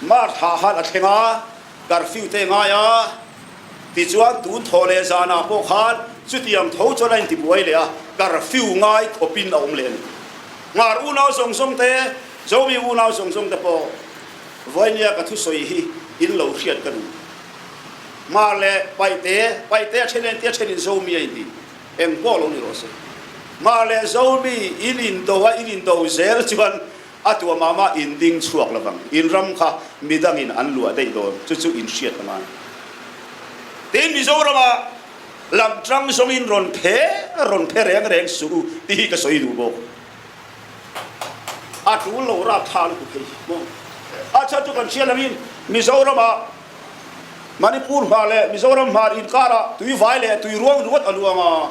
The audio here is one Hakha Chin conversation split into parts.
Mah thla han a thleng ah curfew te ngai ah tichuan tun tho le zan ah pawh khan cutiang tho chu an ti buai le a curfew ngai thopin a um len ngar unau zong zong te zomi unau zong zong te pawh voinia ka thu soi hi in lo hriat ka duh mar le paite paite a thenen te thenin zomi ai ti eng po lo ni ro se mar le zomi in in do a in in do zel chuan a tuamam ah inn ding chuak lovang in ram kha midang in an luah daih dawn cucu in hriat a ngai tin mizoram ah lamtang zong in ron phe ron phe reng reng su ti hi ka soi du bo a tul lo ra than ku thei mo a cha tu kan sia lamin mizoram ah manipur ma le mizoram ma in kara tui vai le tui ruang ruat aluanga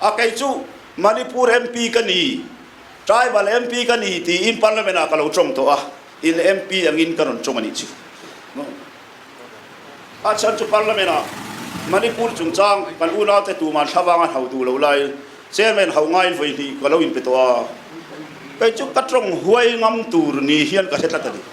a kei cu Manipur MP kan i tribal MP kan i ti in parliament ah ka lo trong to a in MP angin kan on chung ani chu no a chan chu parliament ah Manipur chung chang kan unau te tu man thlavang an hau tu lo lai chairman hau ngai voi ni ka lo in pe to a kei chu ka trong huai ngam tur ni hian ka se tlat ani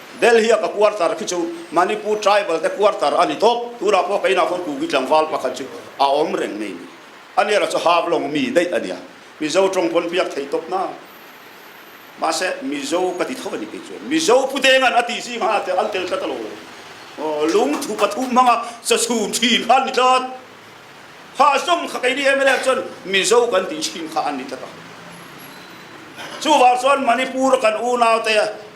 Delhi a quarter khi chu Manipur tribal te quarter ani top tu la po kai na khon tu gi tlangwal pakhat chu a om reng nei ani ra chu half long mi dei ania mizo trong pon piak thei top na ma se mizo ka ti tho ani kai chu mizo pute ngan ati si ma te an tel ka talo lung thu pathum hanga sa sum thin khan ni tlat kha song kha kai ni emele chon mizo kan ti thin kha an ni taka chu war chuan manipur kan unau te